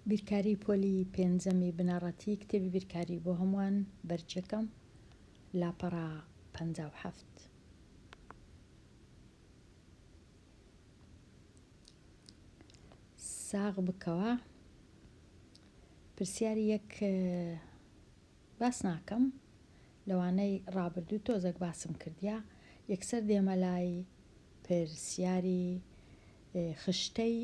بیرکاری پۆلی پێنجەمی بنەڕەتی کتێبی بیرکاری بۆ هەمووان بەرچەکەم لاپەڕە پەنجا و حەفت ساغ بکەوە پرسیاری یەک باس ناکەم لەوانەی ڕابردوو تۆزەک باسم کردیە یەکسەر دێمە لای پرسیاری خشتەی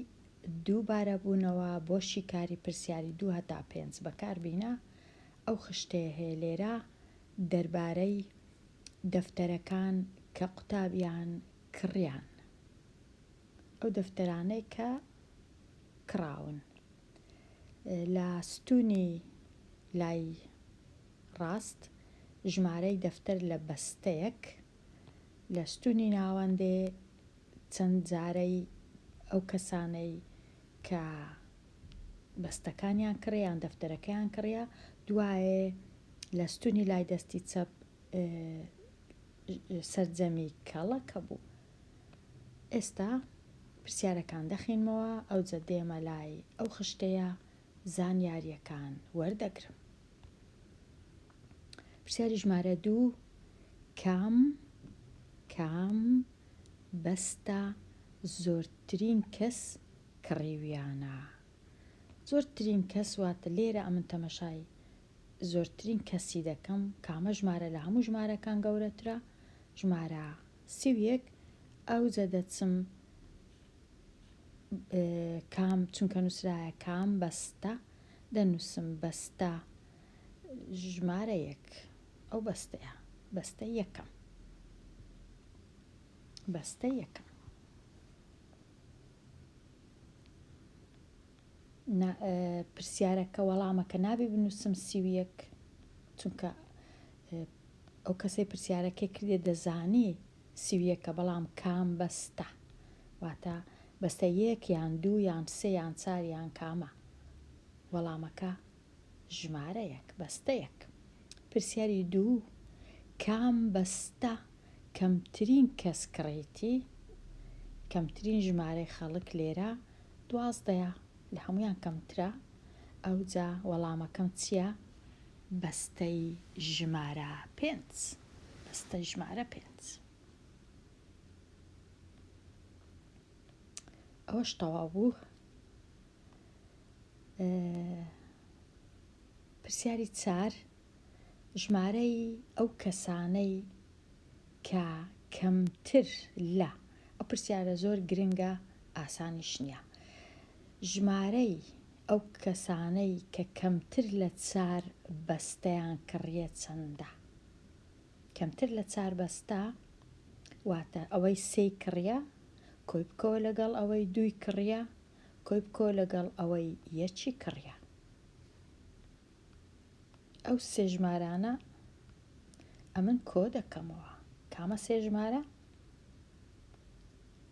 دوو بارە بوونەوە بۆ شیکاری پرسیاری دوو هەتا پێنج بەکار بینە ئەو خشتەیە هەیە لێرە دەربارەی دەفتەرەکان کە قوتابیان کڕیان ئەو دەفتەرانەی کە کڕاون. لە ستوونی لای ڕاست ژمارەی دەفتەر لە بەستەیەک لە ستوونی ناوەندێ چەند جارەی ئەو کەسانەی کە بەستەکانیان کڕیە یان دەفتەرەکەیان کڕیە دوایێ لە ستوونی لای دەستی چەپ سەرجەمی کەڵەکە بوو ئێستا پرسیارەکان دەخینمەوە ئەوجە دێمە لای ئەو خشتەیە زانیاریەکان وەردەگرم پرسیاری ژمارە دوو کام کام بەستە زۆرترین کەس کڕیویانە زۆرترین کەس واتە لێرە ئەمن تەمەشای زۆرترین کەسی دەکەم کامە ژمارە لە هەموو ژمارەکان گەورەترە ژمارە سی و یەک، ئەوجە دەچم کام چونکە نووسرایە کام بەستە دەنووسم بەستە ژمارە یەک ئەو بەستەیە بەستە یەکەم بەستە یەکەم نا پرسیارەکە وەڵامەکە نابێ بنووسم سی و یەک چونکە ئەو کەسەی پرسیارەکەی کردێ دەزانی سی و یەکە بەڵام کام بەستە واتە بەستە یەک یان دوو یان سێ یان چار یان کامە وەڵامەکە ژمارەیەک، بەستەیەک. پرسیاری دوو، کام بەستە کەمترین کەس کڕیتی؟ کەمترین ژمارەی خەڵک لێرە دوازدەیە، لە هەموویان کەمترە، ئەوجا وەڵامەکەم چییە؟ بەستەی ژمارە پێنج. بەستەی ژمارە پێنج. ئەوەش تەواو بوو. پرسیاری چار، ژمارەی ئەو کەسانەی کە کەمتر لە، ئەو پرسیارە زۆر گرنگە ئاسانیش نییە، ژمارەی ئەو کەسانەی کە کەمتر لە چار بەستەیان کڕییە چەندە؟ کەمتر لە چار بەستە واتە ئەوەی سێی کڕییە کۆی بکەوە لەگەڵ ئەوەی دووی کڕییە. کۆی بکۆ لەگەڵ ئەوەی یەکی کڕیا ئەو سێ ژمارانە ئەمن کۆ دەکەمەوە کامە سێ ژمارە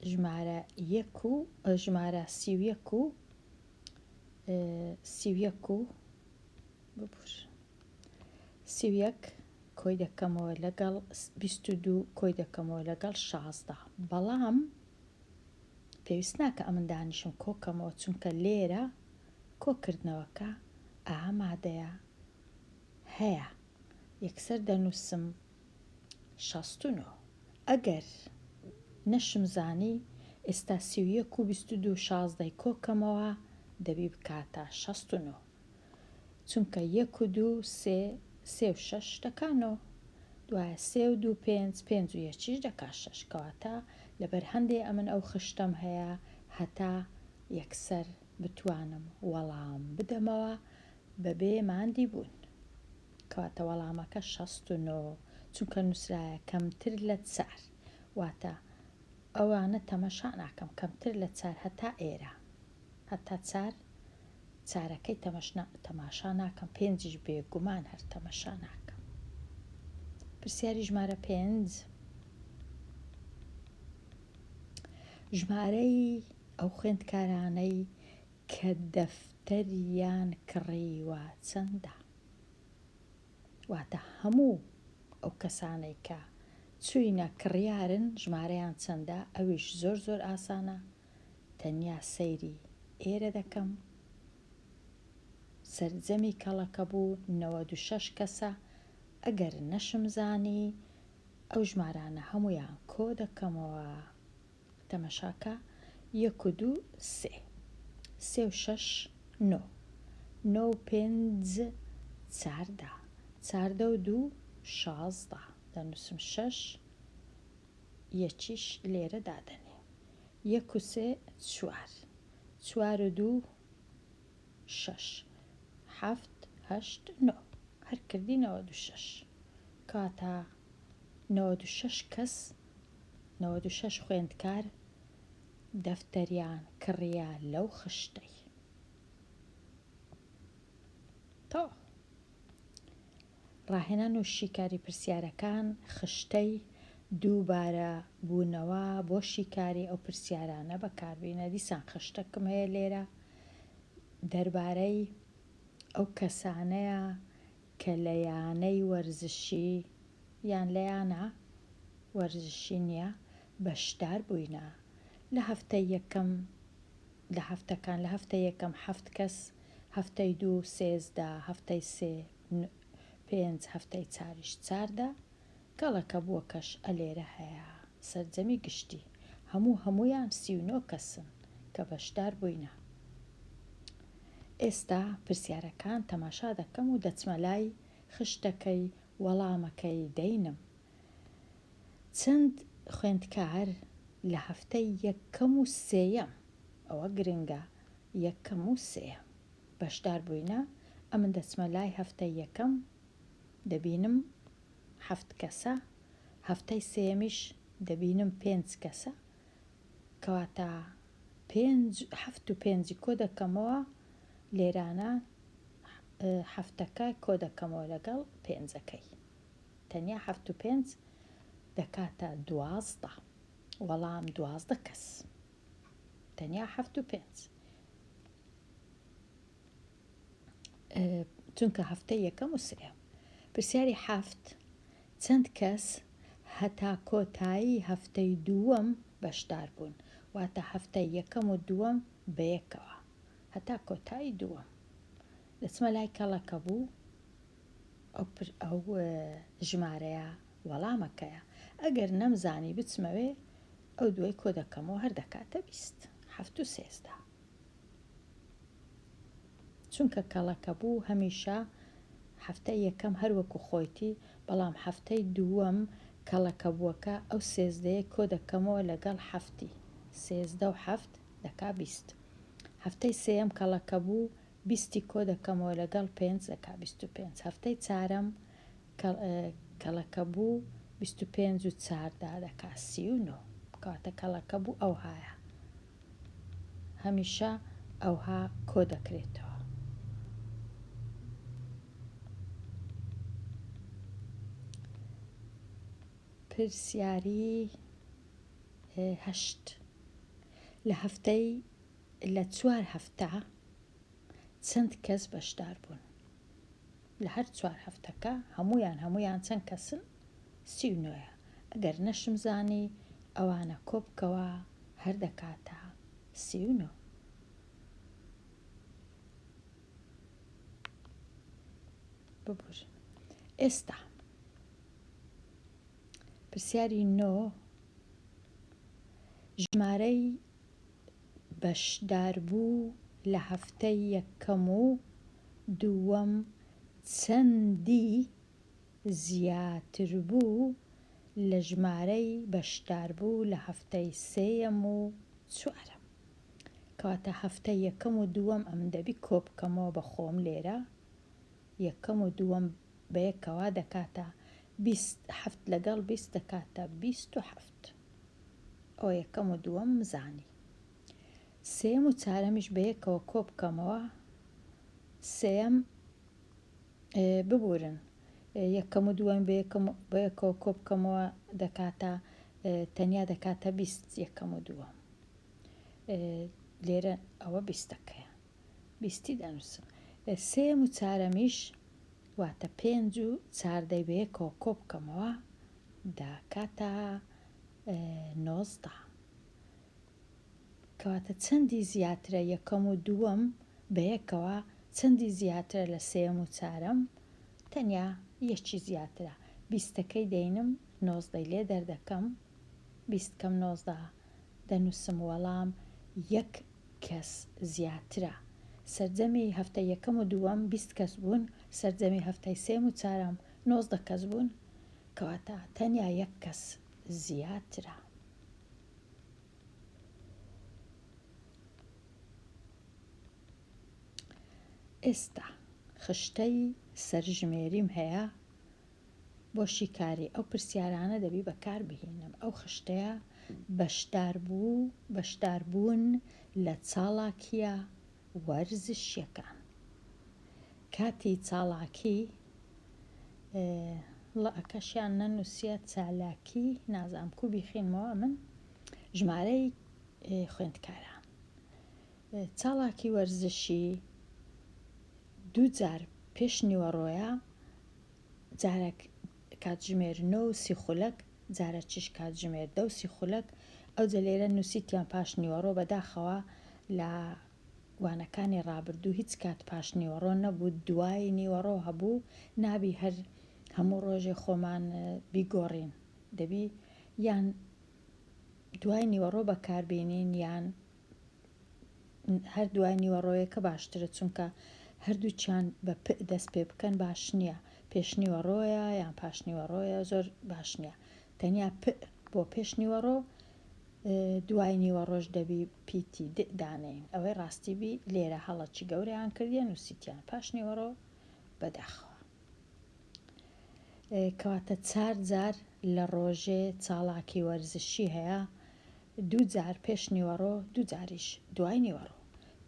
ژمارە یەک و ژمارە سی و یەک و سی و یەک و ببور سی و یەک کۆی دەکەمەوە لەگەڵ بیست و دوو کۆی دەکەمەوە لەگەڵ شازدە بەڵام پێویست ناکا ئەمن دانیشم کۆکەمەوە چونکە لێرە کۆکردنەوەکە ئا مادەیە هەیە یەکسەر دەنووسم شەست و نۆ ئەگەر نەشم زانی ئێستا سی و یەک و بیست و دوو شازدەی کۆکەمەوە دەبی بکاتە شەست و نۆ چونکە یەک و دوو سێ، سێ و شەش دەکا نۆ، دوایە سێ و دوو پێنج، پێنج و یەکیش دەکا شەش، کەواتە لەبەر هەندێ ئەمن ئەو خشتەم هەیە هەتا یەکسەر بتوانم وەڵام بدەمەوە بەبێ ماندی بوون. کەواتە وەڵامەکە شەست و نۆ، چونکە نووسرایە کەمتر لە چار، واتە ئەوانە تەمەشا ناکەم کەمتر لە چار هەتا ئێرە، هەتا چار چارەکەی تەمەشنا تەماشا ناکەم پێنجیش بێ گومان هەر تەمەشا ناکەم پرسیاری ژمارە پێنج ژمارەی ئەو خوێندکارانەی کە دەفتەریان کڕیوە چەندە واتە هەموو ئەو کەسانەی کە چوینە کڕیارن ژمارەیان چەندە ئەویش زۆر زۆر ئاسانە تەنیا سەیری ئێرە دەکەم سەرجەمی کەڵەکە بوو نەوەد و شەش کەسە ئەگەر نەشم زانی ئەو ژمارانە هەموویان کۆ دەکەمەوە تەمەشاکە یەک و دوو سێ سێ و شەش نۆ نۆ و پێنج چاردە چاردە و دوو شازدە دەنووسم شەش یەکیش لێرە دادەنێ یەک و سێ چوار. چوار و دوو شەش. حەفت هەشت نۆ. هەر کردی نەوەد و شەش. کاتا نەوەد و شەش کەس، نەوەد و شەش خوێندکار دەفتەریان کڕیە لەو خشتەی. تەواو. ڕاهێنان و شیکاری پرسیارەکان خشتەی دووبارە بوونەوە بۆ شیکاری ئەو پرسیارانە بەکاربینە دیسان خشتەکم هەیە لێرە دەربارەی ئەو کەسانەیە کە لە یانەی وەرزشی یان لە یانە وەرزشی نییە بەشدار بووینە لە هەفتە یەکەم لە هەفتەکان لە هەفتە یەکەم هەفت کەس هەفتەی دوو سێزدە هەفتەی سێ ن پێنج هەفتەی چاریش چاردە کەڵەکە بووە کەش ە لێرە هەیە سەرجەمی گشتی هەموو هەموویان سی و نۆ کەسن کە بەشدار بووینە ئێستا پرسیارەکان تەماشا دەکەم و دەچمە لای خشتەکەی وەڵامەکەی دەینم چەند خوێندکار لە هەفتەی یەکەم و سێیەم ئەوە گرنگە یەکەم و سێیەم. بەشدار بووینە ئەمن دەچمە لای هەفتەی یەکەم دەبینم حەفت کەسە هەفتەی سێیەمیش دەبینم پێنج کەسە کەواتە پێنج حەفت و پێنجی کۆ دەکەمەوە لێرانە حەفتەکە کۆ دەکەمەوە لەگەڵ پێنجەکەی تەنیا حەفت و پێنج دەکاتە دوازدە وەڵام دوازدە کەس تەنیا حەفت و پێنج چونکە هەفتەی یەکەم و سێ پرسیاری حەفت چەند کەس هەتا کۆتایی هەفتەی دووەم بەشدار بوون واتە هەفتەی یەکەم و دووەم بەیەکەوە هەتا کۆتایی دووەم دەچمە لای کەڵەکە بوو ئەو ژمارەیە وەڵامەکەیە ئەگەر نەمزانی بچمەوێ ئەو دوای کۆ دەکەمەوە هەر دەکاتە بیست هەفت و سێزدە چونکە کەڵەکە بوو هەمیشە هەفتەی یەکەم هەر وەکو خۆیتی بەڵام هەفتەی دووەم کەڵەکە بووەکە ئەو سێزدەیەی کۆ دەکەمەوە لەگەڵ هەفتی سێزدە و هەفت دەکا بیست هەفتەی سێیەم کەڵەکە بوو بیستی کۆ دەکەمەوە لەگەڵ پێنج دەکا بیست و پێنج هەفتەی چارەم کە کەڵەکەبوو بیست و پێنج و چار دا دەکا سی و نۆ کەواتە کەڵەکەبوو ئەوهایە هەمیشە ئەوها کۆ دەکرێتەوە پرسیاری هەشت لە هەفتەی لە چوار هەفتە چەند کەس بەشدار بوون لە هەر چوار هەفتەکە هەمویان هەمویان چەند کەسن سی و نۆیە ئەگەر نەشم زانی ئەوانە کۆبکەوە هەر دەکاتە سی و نۆ ببور ئێستا پرسیاری نۆ ژمارەی بەشداربوو لە هەفتەی یەکەم و دووەم چەندی زیاتربوو لە ژمارەی بەشداربوو لە هەفتەی سێیەم و چوارەم کەواتە هەفتەی یەکەم و دووەم ئەمن دەبی کۆبکەمەوە بە خۆم لێرە یەکەم و دووەم بەیەکەوا دەکاتە بیست هەفت لەگەڵ بیست دەکاتە بیست و هەفت. نەبووت ئەوە یەکەم و دووەم مزانی سێیەم و چارەمیش بەیەکەوە کۆبکەمەوە سێیەم ببورن یەکەم و دووەم بەیەکەم بەیەکەوە کۆبکەمەوە دەکاتە تەنیا دەکاتە بیست یەکەم و دووەم لێرە ئەوە بیستەکەیە بیستی دەنووسم. سێیەم و چارەمیش واتە پێنج و چار دەی بە یەکەوە کۆ بکەمەوە دەکاتە نۆزدە. کەواتە چەندی زیاترە یەکەم و دووەم بە یەکەوە چەندی زیاترە لە سێیەم و چارەم؟ تەنیا یەکی زیاترە. بیستەکەی دەینم نۆزدەی لێ دەردەکەم. بیست کەم نۆزدە دەنووسم وەڵام یەک کەس زیاترە سەرجەمی هەفتەی یەکەم و دووەم بیست کەس بوون سەرجەمی هەفتەی سێم و چارەم نۆزدە کەس بوون کەواتە تەنیا یەک کەس زیاترە. ئێستا خشتەی سەرژمێریم هەیە بۆ شیکاری ئەو پرسیارانە دەبی بەکار بهینم ئەو خشتەیە بەشدار بوو بەشدار بوون لە چاڵاکیە وەرزشیەکان کاتی چاڵاکی ڵە ئەکەشیان نەنووسیە چالاکی نازام کو بیخینمەوە من ژمارەی خوێندکاران چاڵاکی وەرزشی دوو جار پێش نیوەڕۆیە جارەک کاتژمێر نۆ و سی خولەک، جارەچش کاتژمێر دە و سی خولەک، ئەوجە لێرە نووسیتیان پاش نیوەڕۆ، بەداخەوە لە وانەکانی ڕابردوو هیچ کات پاش نیوەڕۆ نەبوو، دوای نیوەڕۆ هەبوو، نابی هەر هەموو ڕۆژێ خۆمان بیگۆڕین، دەبی یان دوای نیوەڕۆ بەکاربێنین یان. هەر دوای نیوەڕۆیەکە باشترە چونکە هەردووکیان بە پ دەست پێ بکەن باش نییە پێشنیوەڕۆیە یان پاشنیوەڕۆیە زۆر باش نییە تەنیا پ بۆ پێشنیوەڕۆ دوای نیوە ڕۆژ دەبی پیتی دانین ئەوەی ڕاستیبی لێرە هەڵەکی گەوریان کردیان و سیتیان پاشنیوەڕۆ بەداخەوە کەواتە چار جار لە ڕۆژێ چاڵاکی وەرزشی هەیە، دوو جار پێش نیوەڕۆ دوو جاریش دوای نیوەڕۆ.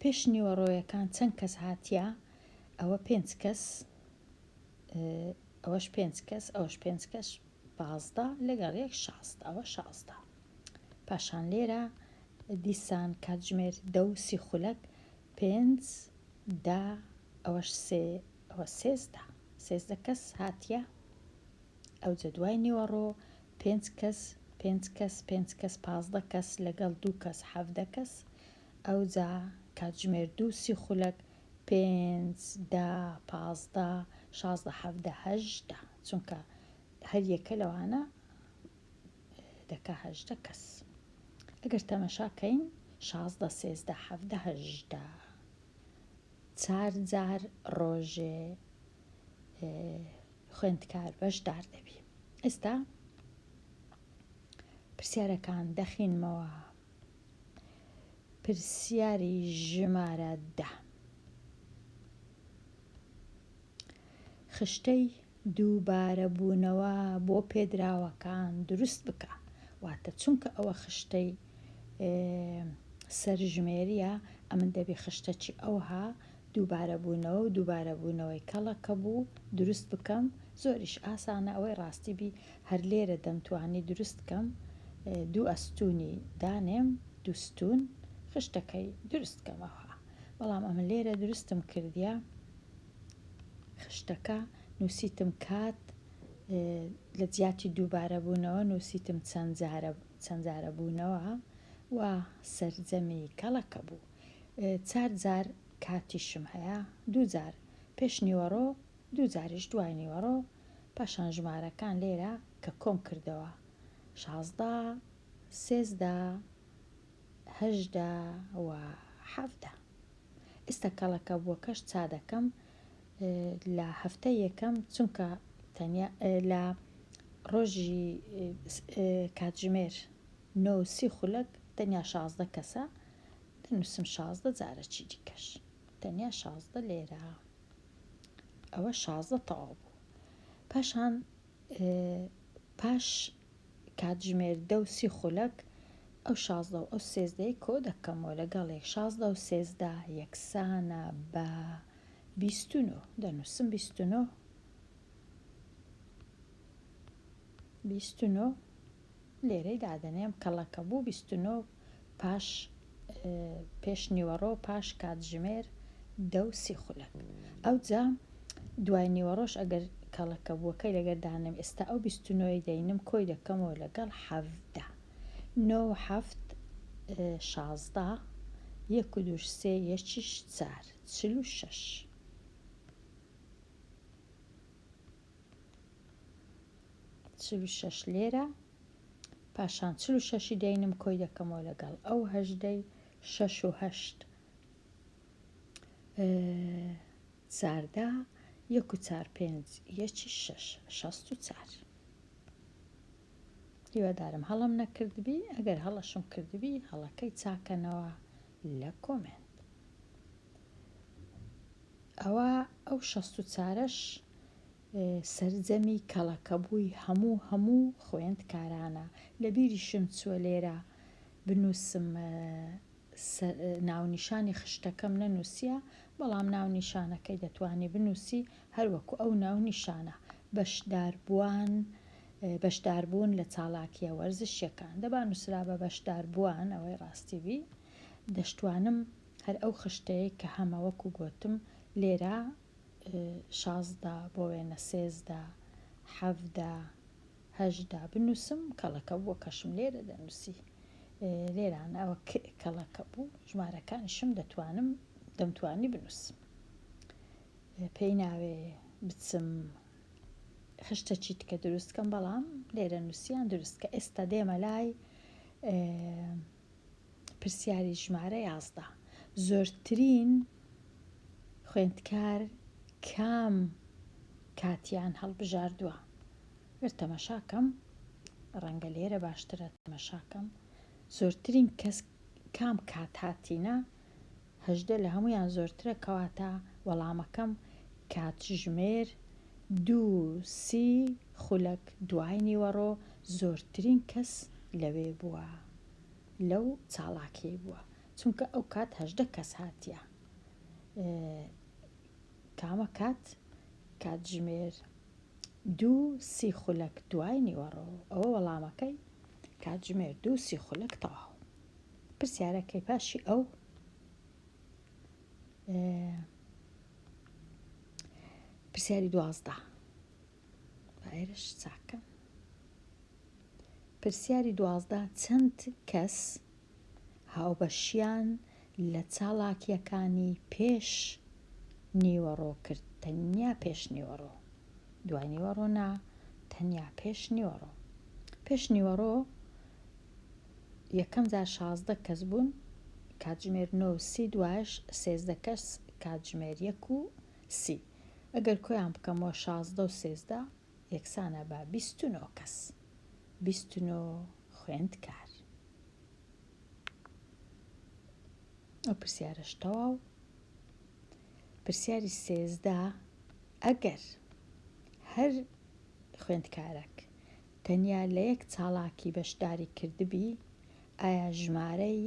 پێش نیوەڕۆیەکان چەند کەس هاتیە؟ ئەوە پێنج کەس، ئەوەش پێنج کەس، ئەوەش پێنج کەش پازدە لەگەڵ یەک شازدە، ئەوە شازدە. پاشان لێرە دیسان کاتژمێر دە و سی خولەک، پێنج، دە، ئەوەش سێ، ئەوە سێزدە سێزدە کەس هاتیە ئەوجە دوای نیوەڕۆ پێنج کەس پێنج کەس پێنج کەس پازدە کەس لەگەڵ دوو کەس حەڤدە کەس ئەوجا کاتژمێر دوو سی خولەک پێنج دە پازدە شازدە حەڤدە هەژدە چونکە هەر یەکە لەوانە دەکا هەژدە کەس ئەگەر تەمەشاکەین شازدە سێزدە حەڤدە هەژدە چار جار ڕۆژێ خوێندکار بەشدار دەبی ئێستا پرسیارەکان دەخینمەوە پرسیاری ژمارە دە خشتەی دووبارە بوونەوە بۆ پێدراوەکان دروست بکە واتە چونکە ئەوە خشتەی سەرژمێریە ئەمن دەبی خشتەکی ئەوها دووبارە بوونەوە و دووبارە بوونەوەی کەڵەکە بوو دروست بکەم زۆریش ئاسانە ئەوەی ڕاستی بی هەر لێرە دەمتوانی دروست کەم دوو ئەستوونی دانێم دوستون خشتەکەی دروست کەم ئەوها بەڵام ئەمە لێرە دروستم کردە. خشتەکە نوسیتم کات لە جیاتی دووبارە بوونەوە نوسیتم چەند جارە چەند جارە بوونەوە و سەرجەمی کەڵەکە بوو چار جار کاتیشم هەیە دوو جار پێش نیوەڕۆ دوو جاریش دوای نیوەڕۆ پاشان ژمارەکان لێرە کە کۆم کردەوە شازدە سێزدە هەژدە و حەڤدە. ئیستە کەڵەکە بوەکەش چادەکەم لە هەفتە یەکەم چونکە تەنیا لە ڕۆژی کاتژمێر نۆ و سی خولەک تەنیا شازدە کەسە دەنووسم شازدە جارە چی دیکەش تەنیا شازدە لێرە ئەوە شازدە تەواو بوو پاشان پاش کاتژمێر دە و سی خولەک ئەو شازدە و ئەو سێزدەیە کۆ دەکەمەوە لەگەڵ یەک شازدە و سێزدە یەکسانە بە بیست و نۆ دەنووسم بیست و نۆ بیست و نۆ لێرەی دادەنێم کەڵەکە بوو بیست و نۆ پاش پێش نیوەڕۆ و پاش کاتژمێر دە و سی خولەک. ئەوجا دوای نیوەڕۆش ئەگەر کەڵەکەبووەکەی لەگەر دانەم، ئێستا ئەو بیست و نۆی دەینم کۆی دەکەمەوە لەگەڵ حەڤدە. نۆ و حەفت شازدە، یەک و دووش سێ، یەکیش چار، چل و شەش. چل و شەش لێرە پاشان چل و شەشی دەینم کۆی دەکەمەوە لەگەڵ ئەو هەژدەی شەش و هەشت چاردا یەک و چار پێنج یەکی شەش شەست و چار هیوادارم هەڵم نەکردبی ئەگەر هەڵەشم کردبی هەڵەکەی چاکەنەوە لە کۆمێنت ئەوە ئەو شەست و چارەش سەرجەمی کەڵەکەبووی هەموو هەموو خوێندکارانە. لە بیریشم چووە لێرە بنووسم ناونیشانی خشتەکەم نەنووسییە، بەڵام ناونیشانەکەی دەتوانی بنووسی هەر وەکوو ئەو ناونیشانە. بەشداربووان، بەشداربوون لە چالاکییە وەرزشییەکان. دە با نووسرابا بەشداربووان، ئەوەی ڕاستی بی. دەشتوانم هەر ئەو خشتەی کە هەمە وەکوو گۆتم لێرە شازدە بۆ وێنە سێزدە حەڤدە هەژدە بنووسم کەڵەکە بووە کەشم لێرە دەنووسی لێرانە ئەوە کەڵەکە بوو ژمارەکانیشم دەتوانم دەمتوانی بنووسم پێی ناوێ بچم خشتە چیت کە دروستکەم بەڵام لێرە نووسیان دروستکە ئێستا دێمە لای پرسیاری ژمارە یازدە، زۆرترین خوێندکار کام کاتیان هەڵبژاردووە؟ گەر تەمەشا کەم، ڕەنگە لێرە باشترە تەمەشا کەم، زۆرترین کەس کام کات هاتینە؟ هەژدە لە هەموویان زۆرترە کەواتە وەڵامەکەم کاتژمێر دوو سی خولەک دوای نیوەڕۆ زۆرترین کەس لەوێ بووە لەو چاڵاکیەی بووە چونکە ئەو کات هەژدە کەس هاتیە کامە کات کاتژمێر دوو سی خولەک دوای نیوەڕۆ ئەوە وەڵامەکەی کاتژمێر دوو سی خولەک تەواو پرسیارەکەی پاشی ئەو پرسیاری دوازدە ئێرش چاکە پرسیاری دوازدە چەند کەس هاوبەشیان لە چاڵاکیەکانی پێش نیوەڕۆ کرد تەنیا پێش نیوەڕۆ دوای نیوەڕۆ نا تەنیا پێش نیوەڕۆ پێش نیوەڕۆ یەکەم جار شازدە کەس بوون کاتژمێر نۆ و سی دوایش سێزدە کەس کاتژمێر یەک و سی ئەگەر کۆیان بکەمەوە شازدە و سێزدە یەکسانە بە بیست و نۆ کەس بیست و نۆ خوێندکار ئەو پرسیارەش تەواو پرسیاری سێزدە ئەگەر هەر خوێندکارەک تەنیا لە یەک چالاکی بەشداری کردبی، ئایا ژمارەی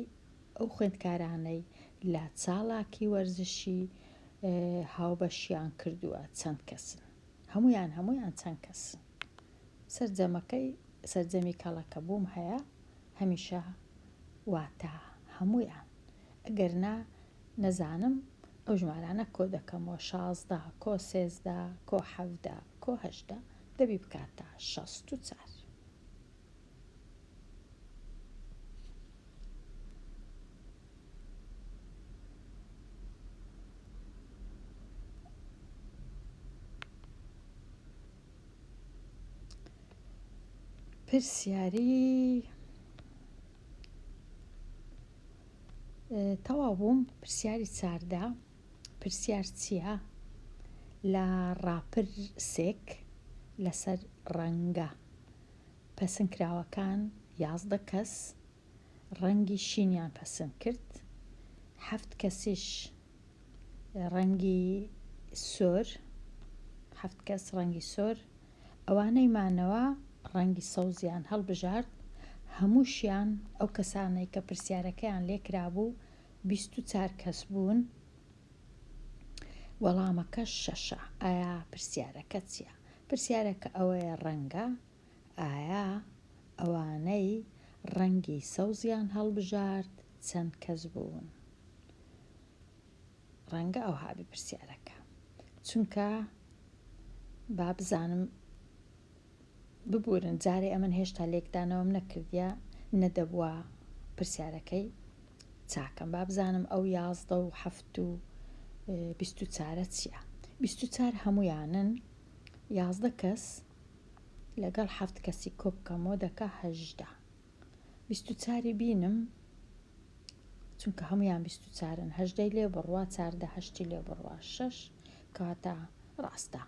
ئەو خوێندکارانەی لە چالاکی وەرزشی هاوبەشیان کردووە چەند کەسن؟ هەموویان هەموویان چەند کەسن؟ سەرجەمەکەی سەرجەمی کەڵەکە بووم هەیە هەمیشە واتە هەموویان ئەگەر نا نەزانم ئەو ژمارانە کۆ دەکەمەوە شازدە کۆ سێزدە کۆ حەڤدە کۆ هەژدە دەبی بکاتە شەست و چار. پرسیاری تەواو بووم پرسیاری چاردە پرسیار چیە لە ڕاپر سێک لەسەر ڕەنگە پەسن کراوەکان یازدە کەس ڕەنگی شینیان پەسن کرد حەفت کەسیش ڕەنگی سۆر حەفت کەس ڕەنگی سۆر ئەوانەی مانەوە ڕەنگی سەوزیان هەڵبژارد هەمووشیان ئەو کەسانەی کە پرسیارەکەیان لێکرابوو بیست و چار کەس بوون وەڵامەکە شەشە ئایا پرسیارەکە چییە پرسیارەکە ئەوەیە ڕەنگە ئایا ئەوانەی ڕەنگی سەوزیان هەڵبژارد چەند کەس بوون ڕەنگە ئەو هابی پرسیارەکە چونکە با بزانم ببورن جارێ ئەمن هێشتا لێکدانەوەم نەکردیە نەدەبوا پرسیارەکەی چاکەم با بزانم ئەو یازدە و حەفت و بیست و چارە چییە بیست و چار هەمویانن یازدە کەس لەگەڵ حەفت کەسی کۆبکەمەوە دەکا هەژدە بیست و چاری بینم چونکە هەمویان بیست و چارن هەژدەی لێ بڕوا چاردە هەشتی لێ بڕوا شەش کەواتە ڕاستە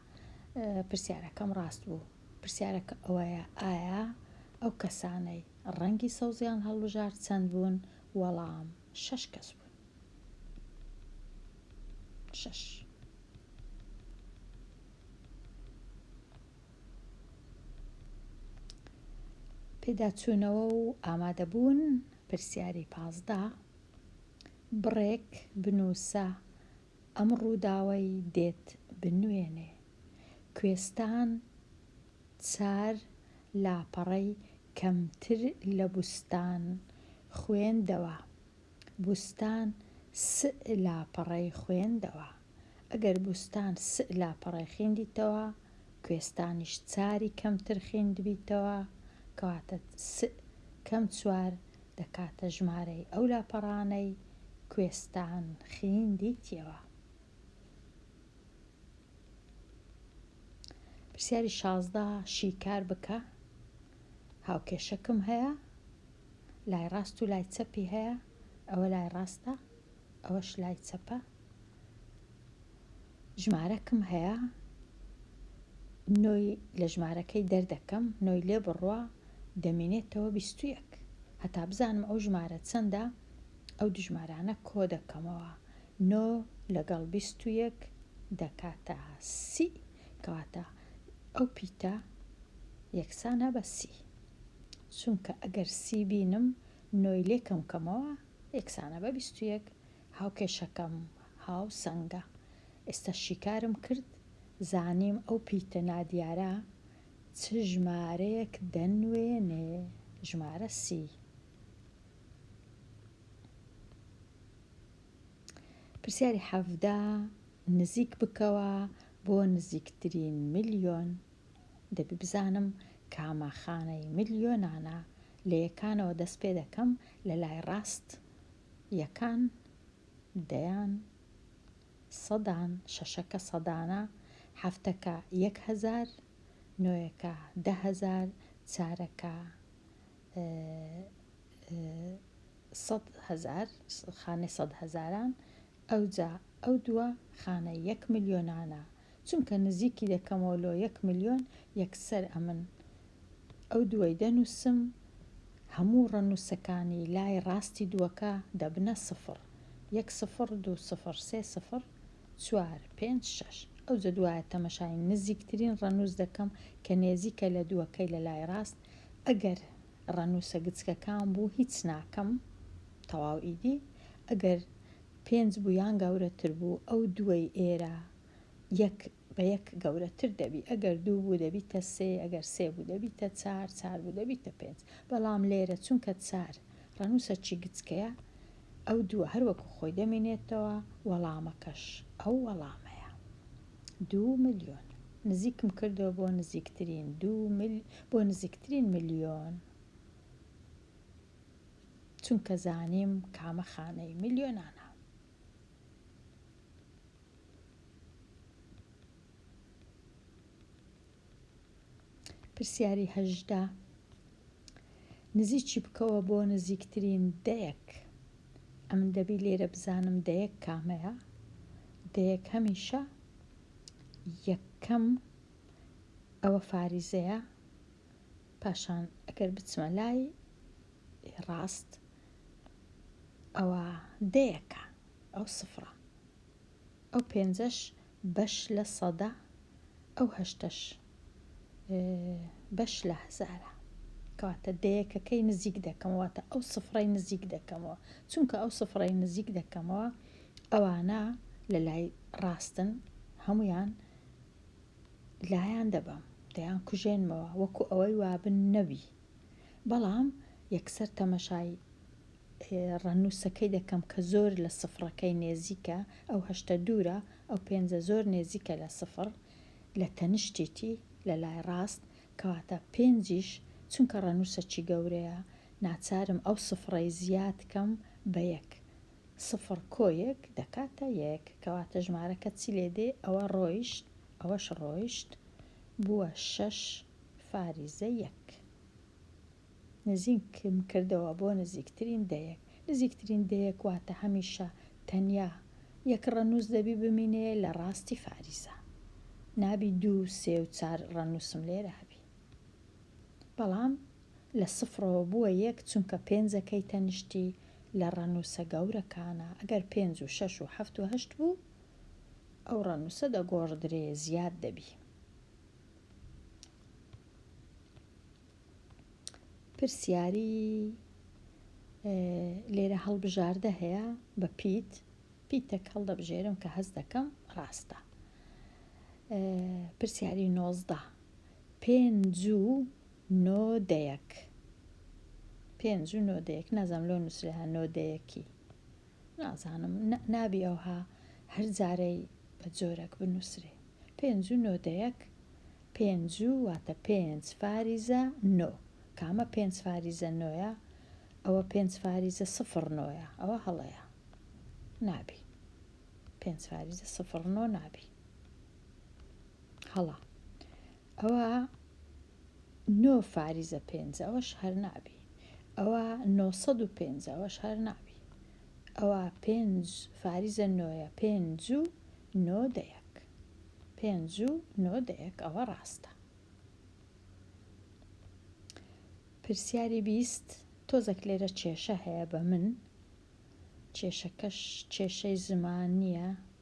پرسیارەکەم ڕاست بوو پرسیارەکە ئەوەیە ئایا ئەو کەسانەی ڕەنگی سەوزیان هەڵبژار چەند بوون وەڵام شەش کەس بوون شەش پێداچوونەوە و ئامادەبوون پرسیاری پازدە بڕێک بنووسە ئەم ڕووداوەی دێت بنوێنێ کوێستان چار لاپەڕەی کەمتر لە بووستان خوێندەوە بووستان سئ لاپەڕەی خوێندەوە. ئەگەر بوستان سئ لاپەڕەی خیندیتەوە کوێستانیش چاری کەمتر خیندبیتەوە کەواتە سئ کەم چوار دەکاتە ژمارەی ئەو لاپەڕانەی کوێستان خیندیتیەوە. پرسیاری شازدە شیکار بکە هاوکێشەکم هەیە لای ڕاست و لای چەپی هەیە ئەوە لای ڕاستە ئەوەش لای چەپە ژمارەکم هەیە نۆی لە ژمارەکەی دەردەکەم نۆی لێ بڕوا دەمێنێتەوە بیستویەک هەتا بزانم ئەو ژمارە چەندە ئەو دژمارانە کۆ دەکەمەوە نۆ لەگەڵ بیستویەک دەکاتە سی کەواتە ئەو پیتە یەکسانە بە سی چونکە ئەگەر سی بینم نۆی لێکەم کەمەوە یەکسانە بە بیست و یەک هاوکێشەکەم هاو سەنگە ئێستا شیکارم کرد زانیم ئەو پیتە نادیارە چ ژمارەیەک دەنوێنێ ژمارە سی پرسیاری حەڤدە نزیک بکەوە بۆ نزیکترین ملیۆن. دەبی بزانم کامە خانەی ملیۆنانە لە یەکانەوە دەست پێ دەکەم لە لای ڕاست یەکان دەیان سەدان شەشەکە سەدانە حەفتەکە یەک هەزار نۆیەکە دە هەزار چارەکە سەد هەزار خانەی سەد هەزاران ئەوجا ئەو دووە خانە یەک ملیۆنانە چونکە نزیکی دەکەمەوە لۆ یەک ملیۆن یەکسەر ئەمن ئەو دووەی دەنووسم هەموو ڕەنووسەکانی لای ڕاستی دووەکە دەبنە سفڕ یەک سفڕ دوو سفڕ سێ سفڕ چوار پێنج شەش ئەوجە دوایە تەمەشای نزیکترین ڕەنووس دەکەم کە نێزیکە لە دووەکەی لە لای ڕاست ئەگەر ڕەنووسە گچکەکان بوو هیچ ناکەم تەواو ئیدی ئەگەر پێنج بوو یان گەورەتر بوو ئەو دووەی ئێرە یەک بە یەک گەورەتر دەبی ئەگەر دوو بوو دەبیتە سێ ئەگەر سێ بوو دەبیتە چار چار بوو دەبیتە پێنج بەڵام لێرە چونکە چار ڕەنووسە چی گچکەیە ئەو دووە هەر وەکو خۆی دەمینێتەوە وەڵامەکەش ئەو وەڵامەیە دوو ملیۆن نزیکم کردەوە بۆ نزیکترین دوو مل بۆ نزیکترین ملیۆن. چونکە زانیم کامە خانەی ملیۆنانە. پرسیاری هەژدە نزیکی بکەوە بۆ نزیکترین دەیەک ئەمن دەبی لێرە بزانم دەیەک کامەیە دەیەک هەمیشە یەکەم ئەوە فاریزەیە پاشان ئەگەر بچمە لای ڕاست ئەوە دەیەکە ئەو سفرە ئەو پێنجەش بەش لە سەدە ئەو هەشتەش بەش لە هەزارە کەواتە دەیەکەکەی نزیک دەکەمەوەتە ئەو سفرەی نزیک دەکەمەوە چونکە ئەو سفرەی نزیک دەکەمەوە ئەوانە لە لای ڕاستن هەمویان لایان دەبەم، دەیان کوژێنمەوە وەکو ئەوەی وابن نەوی. بەڵام یەکسەر تەمەشای ڕەنووسەکەی دەکەم کە زۆر لە سفڕەکەی نێزیکە، ئەو هەشتە دوورە، ئەو پێنجە زۆر نێزیکە لە سفڕ، لە تەنشتیی، لە لای ڕاست، کەواتە پێنجیش، چونکە ڕەنووسەکی گەورەیە، ناچارم ئەو سفڕەی زیاد کەم بە یەک، سفر کۆیەک دەکاتە یەک کەواتە ژمارەکە چی لێ دێ ئەوە ڕۆیشت ئەوەش ڕۆیشت بووە شەش فاریزە یەک نزیکم کردەوە بۆ نزیکترین دەیەک نزیکترین دەیەک واتە هەمیشە تەنیا یەک ڕەنووس دەبی بمینێ لە ڕاستی فاریزە نابی دوو سێ و چار ڕەنووسم لێرە هەبی بەڵام لە سفرەوە بووە یەک چونکە پێنج ەکەی تەنیشتی لە ڕەنووسە گەورەکانە ئەگەر پێنج و شەش و حەفت و هەشت بوو ئەو ڕەنووسە دەگۆڕدرێ زیاد دەبی. پرسیاری لێرە هەڵبژاردە هەیە بە پیت پیتەک هەڵدەبژێرم کە هەست دەکەم ڕاستە پرسیاری نۆزدە پێنج و نۆ دەیەک پێنج و نۆ دەیەک نازانم لۆ نووسراە نۆ دەیەکی نازانم نابی ئەوها هەر جارەی بە جۆرەک بنووسێ پێنج و نۆ دەیەک پێنج و واتە پێنج فاریزە نۆ کامە پێنج فاریزە نۆە ئەوە پێنج فاریزە سفر نۆە ئەوە هەڵەیە نابی پێنج فاریزە سفر نۆ نابی هەڵە ئەوا نۆ فاریزە پێنج ئەوەش هەر نابی ئەوا نۆ سەد و پێنج ئەوەش هەر نابی ئەوا پێنج فاریزە نۆیە پێنج و نۆ دەیەک پێنج و نۆ دەیەک ئەوە ڕاستە پرسیاری بیست تۆزەک لێرە کێشە هەیە بە من کێشەکەش کێشەی زمان نییە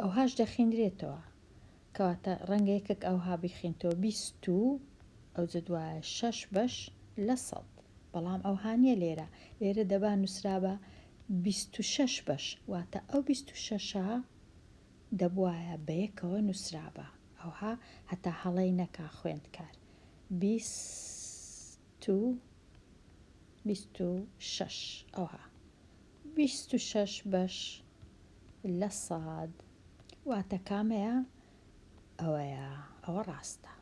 ئەوهاش دەخینرێتەوە کەواتە ڕەنگە یەکێک ئەوها بیخینتەوە بیست و ئەو جە دوایە شەش بەش لە سەد بەڵام ئەوهانە لێرە لێرە دەبا نووسرابە بیست و شەش بەش واتە ئەو بیست و شەشە دەبواە بە یەکەوە نووسرابە ئەوها هەتا هەڵەی نەکا خوێندکار بیست و بیست و شەش ئەوها بیست و شەش بەش لە سەد واتە کامەیە ئەوەیە ئەوە ڕاستە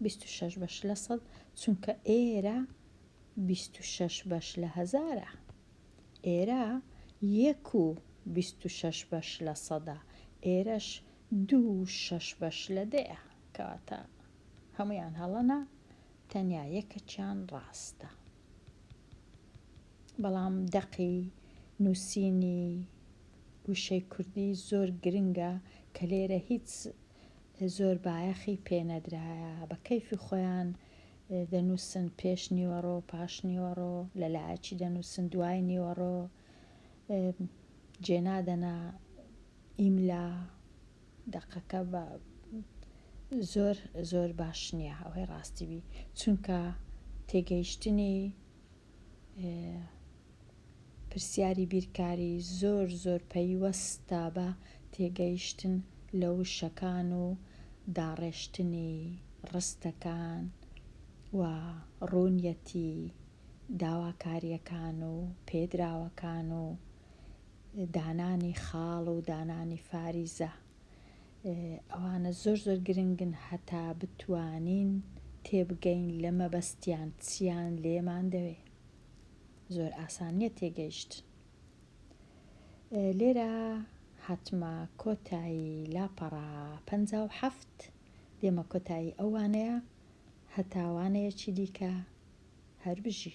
بیست و شەش بەش لە سەد چونکە ئێرە بیست و شەش بەش لە هەزارە ئێرە یەک و بیست و شەش بەش لە سەدە ئێرەش دوو شەش بەش لە دەیە کەواتە هەموویان هەڵەنە تەنیا یەکەکیان ڕاستە بەڵام دەقی نووسینی وشەی کوردی زۆر گرنگە کە لێرە هیچ زۆر بایەخی پێنەدرایە بە کەیفی خۆیان دەنووسن پێش نیوەڕۆ پاش نیوەڕۆ لە لایەکی دەنووسن دوای نیوەڕۆ جێنادەنا ئیملا دەقەکە بە زۆر زۆر باش نییە ئەوەی ڕاستی بی چونکە تێگەیشتنی پرسیاری بیرکاری زۆر زۆر پەیوەستە بە تێگەیشتن لە وشەکان و داڕێشتنی ڕستەکان و ڕوونیەتی داواکارییەکان و پێدراوەکان و دانانی خاڵ و دانانی فاریزە ئەوانە زۆر زۆر گرنگن هەتا بتوانین تێبگەین لە مەبەستیان چیان لێمان دەوێ زۆر ئاسانیە تێگەیشت لێرە هاتمە کۆتایی لاپەڕا پ هەفت دێمە کۆتایی ئەوانەیە هەتاوانەیەکی دیکە هەربژی